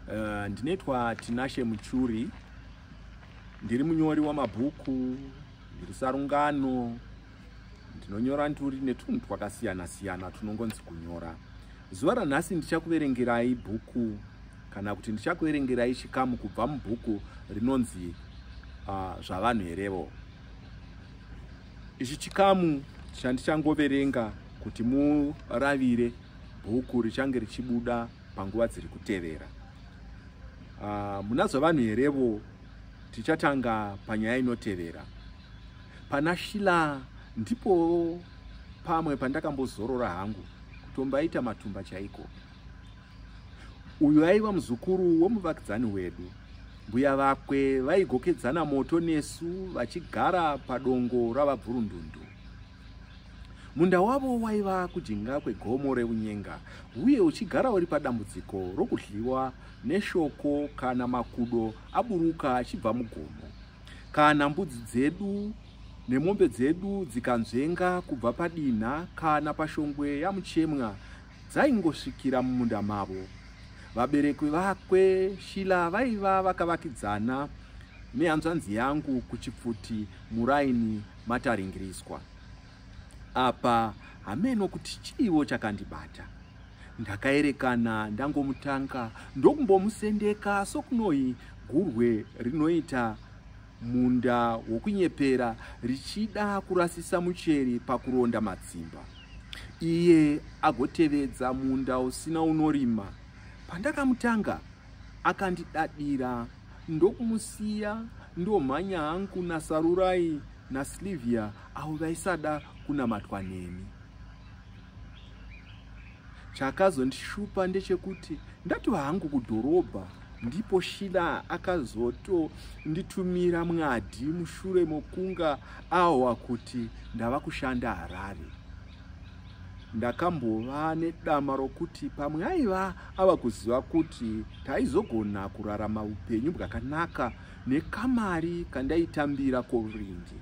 Uh, ndinoitwa Tinashe Muchuri, ndiri munyori wamabhuku, ndiri sarungano, ndinonyora nduri netunhu twakasiyana siyana tunongonzi kunyora. Zuva ranhasi ndichakuverengerai bhuku kana kuti ndichakuverengerai chikamu kubva mubhuku rinonzi uh, Zvavanhu Herevo. Ichi chikamu chandichangoverenga kuti muravire bhuku richange richibuda panguva dziri kutevera. Uh, muna zvavanhu herevo tichatanga panyaya inotevera. Pana Shila ndipo pamwe pandakambozorora hangu kutombaita matumba chaiko. Uyu aiva muzukuru womuvakidzani wedu. Mbuya vakwe vaigokedzana moto nesu vachigara padongo ravabvurundundu. Munda wavo waiva kujinga kwegomo reunyenga uye uchigara uri padambudziko rokudliwa neshoko kana makudo aburuka achibva mugomo. Kana mbudzi dzedu nemombe dzedu dzikanzvenga kubva padinha kana pashongwe yamuchemwa dzaingosvikira mumunda mavo. Vaberekwi vakwe Shila vaiva vakavakidzana nehanzvanzi yangu kuchipfuti muraini mataringiriswa. Apa hameno kuti chiiwo chakandibata. Ndakaerekana ndangomutanga ndokumbomusendeka sokunoi gurwe rinoita Munda wokunyepera richida kurasisa mucheri pakuronda matsimba. Iye agotevedza munda usina unorima. Pandakamutanga akandidadira ndokumusiya ndomhanya hangu naSarurai naSlivia avo vaisada kunamatwa neni. Chakazondishupa ndechekuti ndatova hangu kudhorobha ndipo shila akazotonditumira mwadi mushure mokunga ahwa kuti ndava kushanda harare ndakambova nedama rokuti pamwe aiva ava kuziva kuti taizogona kurarama upenyu bwakanaka nekamari kandaitambira koringi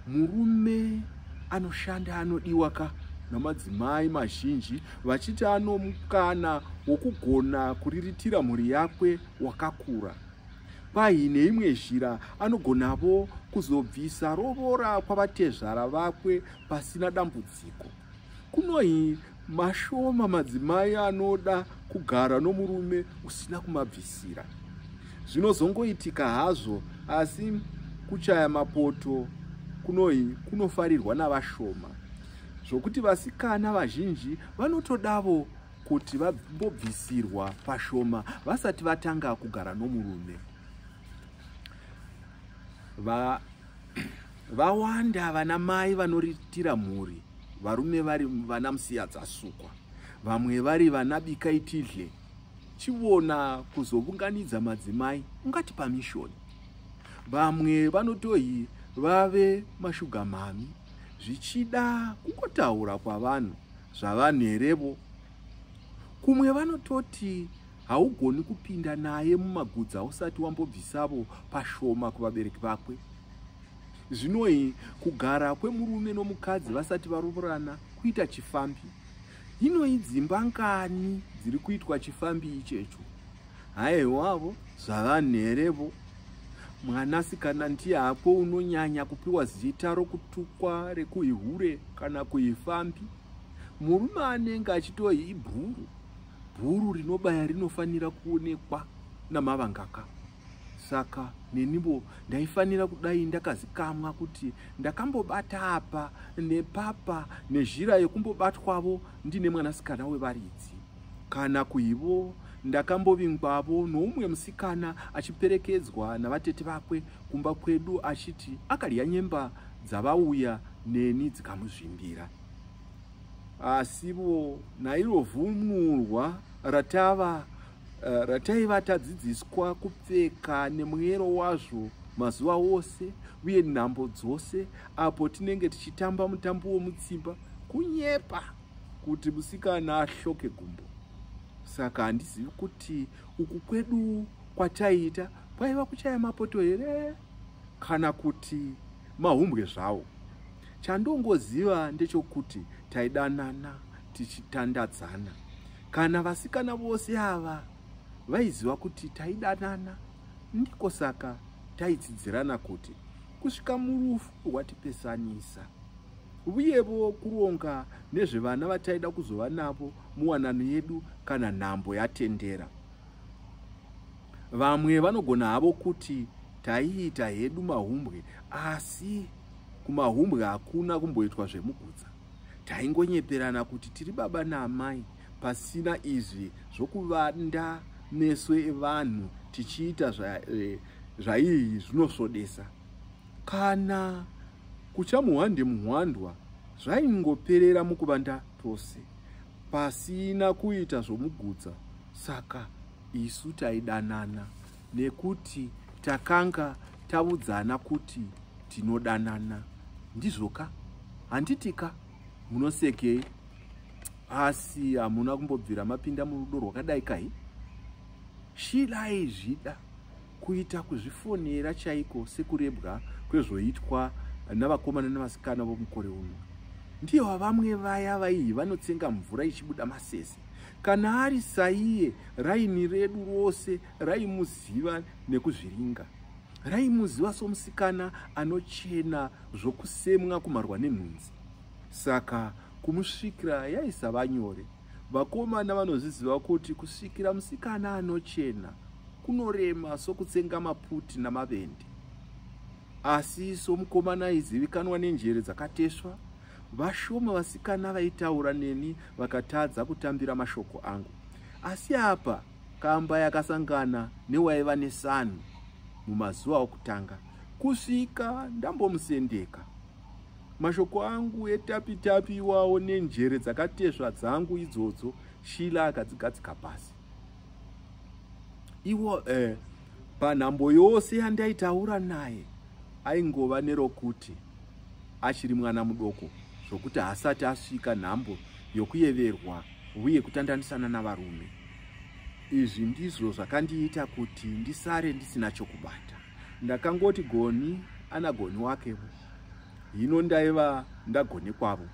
Murume anoshanda anodiwa ka namadzimai mazhinji vachiti anomukana wokugona kuriritira mhuri yakwe wakakura. Kwahi neimwe zhira anogonavo kuzobvisa rovora kwavatezvara vakwe pasina dambudziko. Kunohi Mashoma madzimai anoda kugara nomurume usina kumabvisira. Zvinozongoitika hazvo asi kuchaya mapoto kunoi kunofarirwa navashoma zvokuti vasikana vazhinji vanotodavo kuti vambobvisirwa pashoma vasati vatanga kugara nomurume vawanda vana mai vanoritira mhuri varume vari vana musiya dzasukwa vamwe vari vana bika itidle chivona kuzovunganidza madzimai ungati pamishoni vamwe vanotohi vave mashuga mhami zvichida kungotaura kwavanhu zvavanhu herevo kumwe vanototi haugoni kupinda naye mumagudzi ausati wambobvisavo pashoma kuvabereki vakwe zvinoi kugara kwemurume nomukadzi vasati varovorana kuita chifambi inoi dzimba ngani dziri kuitwa chifambi ichecho haiwavo zvavanherevo mwanasikana ndiye hako unonyanya kupiwa zita rokutukwa rekuihure kana kuifambi murume anenge achitoi ibhuru bhuru rinobaya rinofanira kuonekwa namavangaka saka nenivo ndaifanira kudai ndakazikamwa kuti ndakambobata apa nepapa nezhira yekumbobatwavo ndine mwanasikana wevaridzi kana kuivo ndakambovingwavo noumwe musikana achiperekedzwa navatete vakwe kumba kwedu achiti akadya nyemba dzavauya neni dzikamuzvimbira asivo nairo vunurwa ratava eh, rataiva tadzidziswa kupfeka nemwero wazvo mazuva ose uye nhambo dzose apo tinenge tichitamba mutambo womutsimba kunyepa kuti musikana ahloke gumbo saka handizivi kuti uku kwedu kwataiita kwaiva kuchaya mapoto here kana kuti mahumbwe zvawo chandongoziva ndechokuti taidanana tichitandadzana kana vasikana vose ava vaiziva kuti taidanana ndiko saka taitsidzirana kuti kusvika murufu rwatipesanisa uyevo kuronga nezvevana vataida kuzova navo muwanano yedu kana nhambo yatendera Vamwe vanogona havo kuti taiita hedu mahumbwe asi kumahumbwe hakuna kumboitwa zvemugutsa. Taingonyeperana kuti tiri baba naamai pasina izvi zvokuvanda meso evanhu tichiita eh, zvaiyi zvinosvodesa. Kana kutya muhwande muhwandwa zvaingoperera mukuvanda tose pasina kuita zvomugutsa saka isu taidanana nekuti takanga taudzana kuti tinodanana ndizvo ka handiti ka munosekei asi hamuna kumbobvira mapinda murudo rwakadai kai shila aizvida kuita kuzvifonera chaiko sekurebwa kwezvoitwa navakomana nevasikana vomukore uno ndiyo vamwe vaya vaihi vanotsenga mvura ichibuda masese Kana ari saiye, raini redu rose raimuziva nekuzviringa. Raimuziva somusikana anochena zvokusemwa kumarwa nenhunzi. Saka kumusvikira yaisava nyore. Vakomana vanozviziva kuti kusvikira musikana anochena kunorema sokutsenga maputi namavende. Asi isu mukomana aizivikanwa nenjere dzakateswa, vashoma vasikana vaitaura neni vakatadza kutambira mashoko angu. Asi apa kamba yakasangana newaiva nesanhu mumazuva okutanga kusvika ndambomusendeka. Mashoko angu etapitapi iwawo nenjere dzakatesva dzangu idzodzo Shila akadzigadzika pasi. Iwo eh, Panhambo yose yandaitaura naye aingova nerokuti achiri mwana mudoko zvokuti haasati asvika nhambo yokuyeverwa uye kutandanisana navarume. Izvi ndizvo zvakandiita kuti ndisare ndisina chokubata. Ndakangoti goni ana goni wake hino ndaiva ndagone kwavo.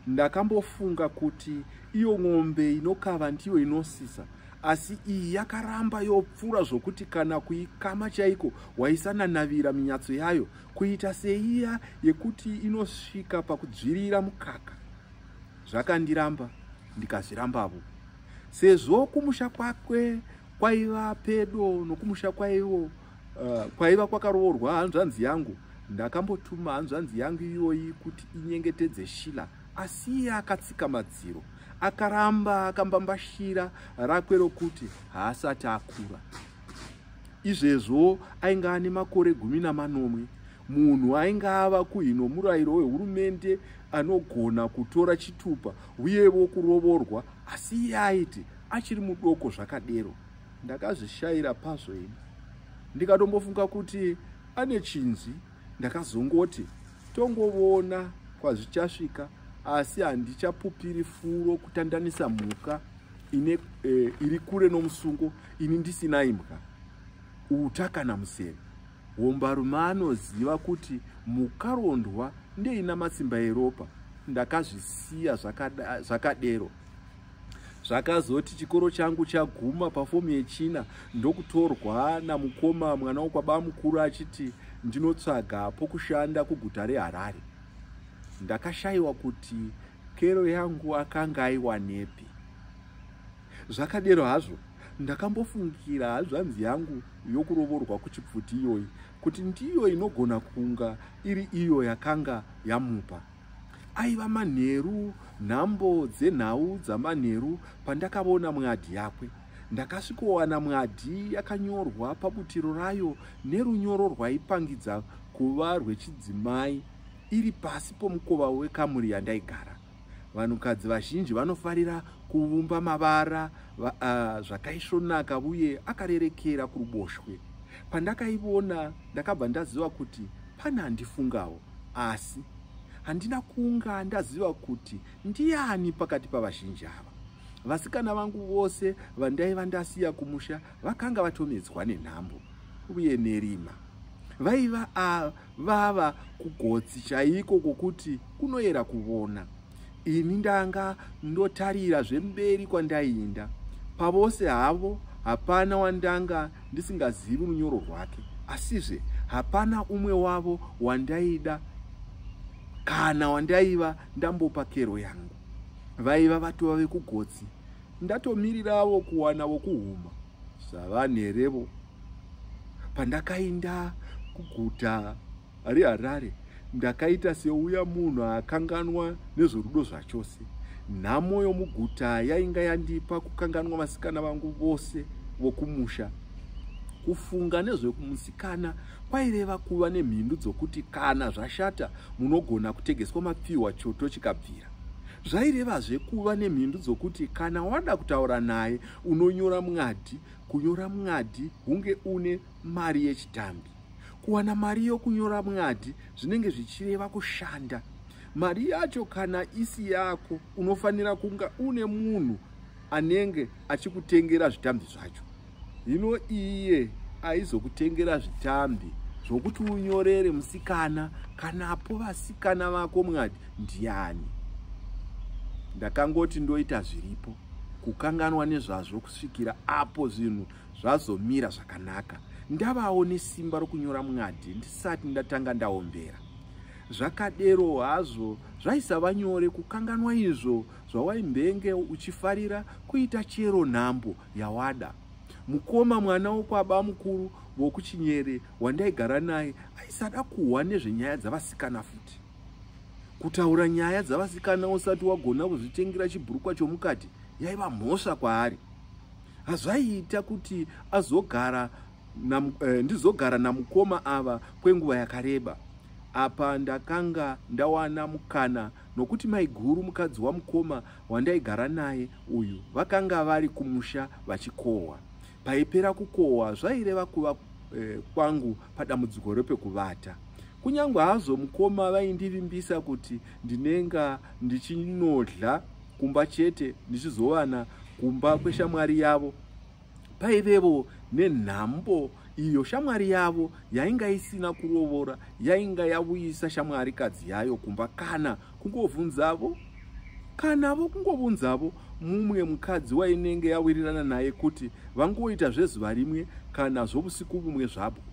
Ndakambofunga kuti iyo ng'ombe inokava ndiyo inosisa asi iyi yakaramba yopfuura zvokuti kana kuikama chaiko waisananavira minyatso yayo kuita seiya yekuti inosvika pakudzvirira mukaka zvakandiramba ndikazvirambavo sezvo kumusha kwakwe kwaiva pedo nokumusha kwaivo uh, kwaiva kwakaroorwa hanzvanzi yangu ndakambotuma hanzvanzi yangu iyoyi kuti inyengetedze shila Asi iye akatsika madziro, akaramba akambambashira rakwe rokuti haasati akura. Izvezvo ainge ane makore gumi namanomwe. Munhu ainge ava kuhino murayiro wehurumende anogona kutora chitupa uyevo kurovorwa, asi iye aiti achiri mudoko zvakadero. Ndakazvishayira pazvo ini ndikatombofunga kuti ane chinzi. ndakazongoti tongovona kwazvichasvika asi handichapupiri furo kutandanisa mhuka ine e, iri kure nomusungo ini ndisina imbwa uta kana museve hombarume anoziva kuti mukarondwa ndeina matsimba eropa ndakazvisiya zvakadero zvakazoti chikoro changu chaguma pafomu yechina ndokutorwa namukoma mwana wokwabamukuru achiti ndinotsvaga pokushanda kuguta reharare ndakashayiwa kuti kero yangu akanga aiwanepi zvakadero hazvo ndakambofungira hazvanzi yangu yokurovorwa kuchipfuti iyoyi kuti ndiyo inogona kunga iri iyo yakanga yamupa aiva manheru nhambo dzenhau dzamanheru pandakavona mwadhi yakwe ndakasvikowana mwadhi yakanyorwa pabutiro rayo nerunyoro rwaipangidza kuva rwechidzimai iri pasi pomukova wekamuri yandaigara vanhukadzi vazhinji vanofarira kuvumba mavara uh, zvakaisvonaka uye akarerekera kuruboshwe pandakaivona ndakabva ndaziva kuti Pane andifungawo asi handina kunga ndaziva kuti ndiani pakati pavazhinji ava. Vasikana vangu vose vandaiva ndasiya kumusha vakanga vatomedzwa nenhambo uye nerima. Vaiva vava kugotsi chaiko kwokuti kunoyera kuvona. Ini ndanga ndotarira zvemberi kwandaiinda. Pavose havo hapana wandanga ndisingazivi runyoro rwake. Asizve hapana umwe wavo wandaida kana wandaiva ndambopa kero yangu. Vaiva vatova vekugotsi. Ndatomiriravo kuwana vokuhuma. Zvavanerevo. Pandakainda kuguta ari harare ndakaita seuya munhu akanganwa nezvorudo zvachose nhamo yomuguta yainga yandipa kukanganwa vasikana vangu vose vokumusha kufunga nezvekumusikana kwaireva kuva nemhindu dzokuti kana zvashata munogona kutegeswa mapfihwa choto chikabvira zvairevazve kuva nemhindu dzokuti kana wada kutaura naye unonyora mwadhi kunyora mwadhi hunge une mari yechitambi kuwana mari yokunyora mwadhi zvinenge zvichireva kushanda mari yacho kana isi yako unofanira kunga une munhu anenge achikutengera zvitambi zvacho hino iye aizokutengera zvitambi zvokuti unyorere musikana kanapo vasikana vako mwadhi ndiani ndakangoti ndoita zviripo kukanganwa nezvazvo kusvikira apo zvinhu Zvazomira zvakanaka ndavawo nesimba rokunyora mwadhi ndisati ndatanga ndaombera. Zvakadero hazvo zvaisava nyore kukanganwa izvo zvawaimbenge uchifarira kuita chero nhambo yawada. Mukoma mwana wokwaba mukuru vokuchinyere wandaigara naye aisada kuhwa nezvenyaya dzavasikana futi. Kutaura nyaya dzavasikana usati wagona kuzvitengera chibhurukwa chomukati yaiva mhosva kwaari. hazvaiita kuti azogara nam, eh, ndizogara namukoma ava kwenguva yakareba apa ndakanga ndawana mukana nokuti maiguru mukadzi wamukoma wandaigara naye uyu vakanga vari kumusha vachikohwa paipera kukohwa zvaireva kuva eh, kwangu padambudziko repekuvata kunyange hazvo mukoma vaindivimbisa kuti ndinenga ndichinodla kumba chete ndichizovana kumba kweshamwari yavo paivevo nenhambo iyo shamwari yavo yainga isina kurovora yainga yavuyisa shamwari kadzi yayo kumba kana kungovunzavo kana vo kungovunzavo mumwe mukadzi wainenge yawirirana naye kuti vangoita zvezuva rimwe kana zvovusiku vumwe zvabwo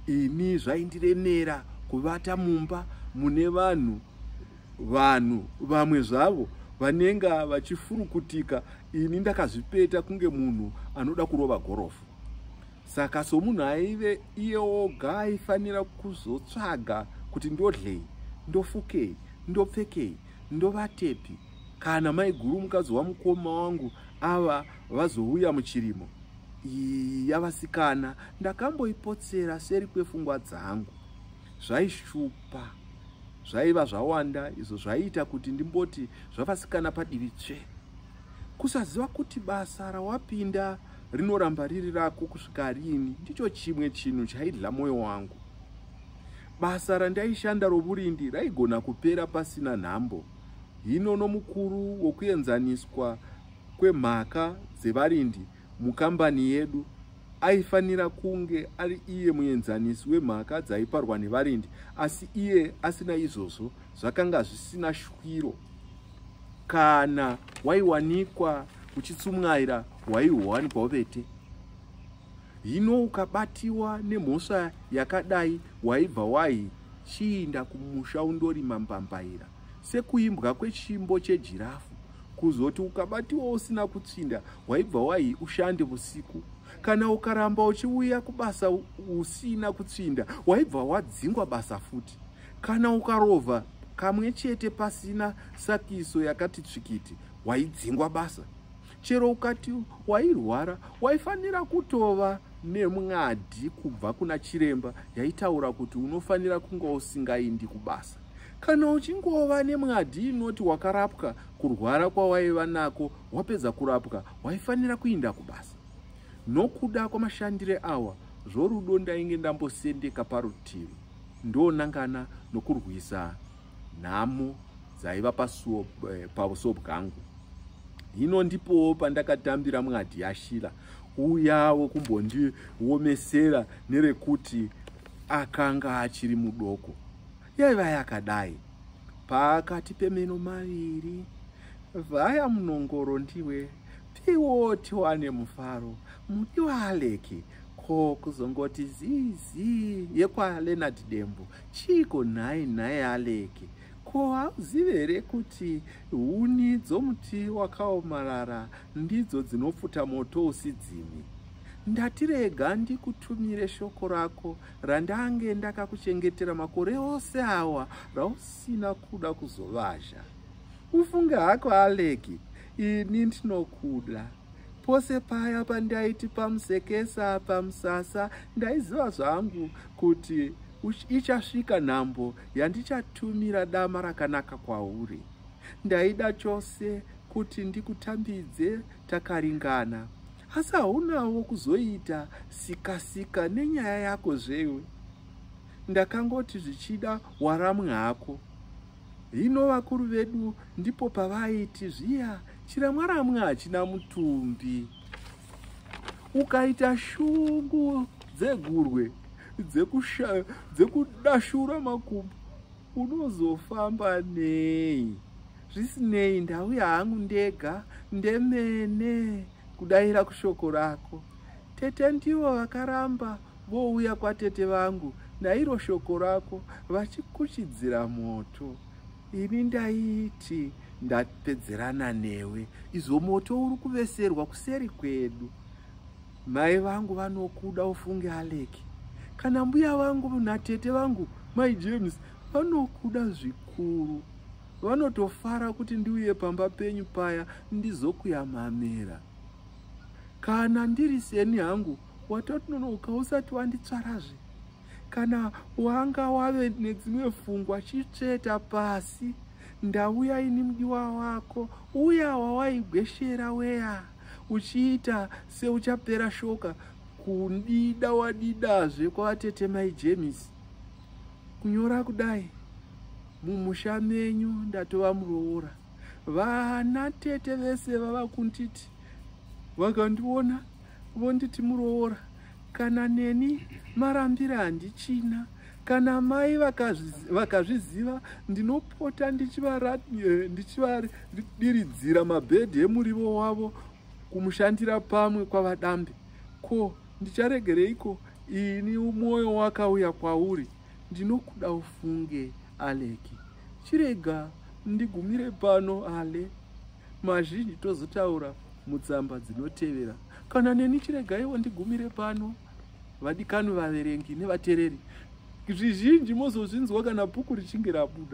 ini zvaindiremera kuvata mumba mune vanhu vanhu vamwe zvavo vanenga vachifurukutika ini ndakazvipeta kunge munhu anoda kurova gorofu saka somunhu aive iye oga aifanira kuzotsvaga kuti ndodlei ndofukei ndopfekei ndovatepi kana maiguru mukadzi wamukoma wangu ava vazouya muchirimo iyi yavasikana ndakamboipotsera seri kwefungwa dzangu zvaishupa zvaiva zvawanda izvo zvaiita kuti ndimboti zvavasikana padivi tsve kusaziva kuti basa rawapinda rinoramba riri rako kusvika riini ndicho chimwe chinhu chaidla mwoyo wangu basa randaishanda roburindi raigona kupera pasina nhambo hino nomukuru wokuenzaniswa kwemhaka dzevarindi mukambani yedu aifanira kunge ari iye muenzanisi wemhaka dzaiparwa nevarindi asi iye asina izvozvo zvakanga zvisina shwiro kana waiwanikwa uchitsumwaira waiwanikwawo vete hino ukabatiwa nemhosva yakadai waibva wai chiinda kumusha undorima mbambaira sekuimbwa kwechimbo chejirafu kuzoti ukabatiwa usina kutsvinda waibva wahi ushande vusiku kana ukaramba uchiuya kubasa usina kutsvinda waibva wadzingwa basa futi kana ukarova kamwe chete pasina sakiso yakati tsvikiti waidzingwa basa chero ukati wairwara waifanira kutova nemwadi kubva kuna chiremba yaitaura kuti unofanira kunga usingaindi kubasa Kana uchingova nemwadhi inoti wakarapwa kurwara kwawaiva nako wapedza kurapwa waifanira kuinda kubasa. Nokuda kwamashandire awa zvorudo ndainge ndambosendeka parutivi ndonangana nokurwisa nhamo dzaiva pasuo eh, pauso bwangu. Hino ndipowo pandakatambira mwadhi yashila uya wokumbondiomesera nerekuti akanga achiri mudoko. yaiva yakadai pakati pemeno maviri vaya munongoro ndiwe piwoti wane mufaro mudi waaleki ko kuzongoti zizi yekwalenard dembo chiiko nhai nhai aleki ko hauzive here kuti huni dzomuti wakaomarara ndidzo dzinopfuta moto usidzimi ndatirega ndikutumire shoko rako randange ndakakuchengetera makore ose awa rausina kuda kuzovazha ufunge hako aleki ini ndinokuda pose paya pandaiti pamusekesa pamusasa ndaiziva zvangu kuti ichasvika nhambo yandichatumira dama rakanaka kwauri ndaida chose kuti ndikutambidze takaringana asi haunawo kuzoita sikasika nenyaya yako zvewe ndakangoti zvichida waramwe hako hino vakuru vedu ndipo pavaiti zviya chiramwaramwe hachina mutumbi ukaita shungu dzegurwe dzekudashura makumbo unozofamba nei zvisinei ndauya hangu ndega ndemene kudaira kushoko rako tete ndivo vakaramba vouya kwatete vangu nairo shoko rako vachikuchidzira moto ini ndaiti ndapedzerana newe izvo moto uri kuveserwa kuseri kwedu mai vangu vanokuda ufunge aleki kana mbuya vangu natete vangu mai james vanokuda zvikuru Vanotofara kuti ndiuye pamba penyu paya ndizokuyamamira. Kana ndiri seni hangu watononoka usati wanditsvarazve. Kana wanga wave nedzimwe fungwa chitsveta pasi ndauya ini mudiwa wako uya wawaigweshera weya uchiita seuchapera shoka kundida wadidazve kwavatete mai James. kunyora kudai mumusha menyu ndatova muroora vana tete vese vava kunditi vakandiona vonditi muroora kana neni marambira handichina kana mai vakazviziva ndinopota eh, ndichivadiridzira mabhedhi emurivo wavo kumushandira pamwe kwavadambe ko ndicharegereiko ini mwoyo wakauya kwauri ndinokuda ufunge aleki chirega ndigumire pano ale mazhinji tozotaura mutsamba dzinotevera kana neni chiregaiwo ndigumire pano vadikani vaverengi nevatereri zvizhinji mozozvinzwa kana bhuku richinge rabuda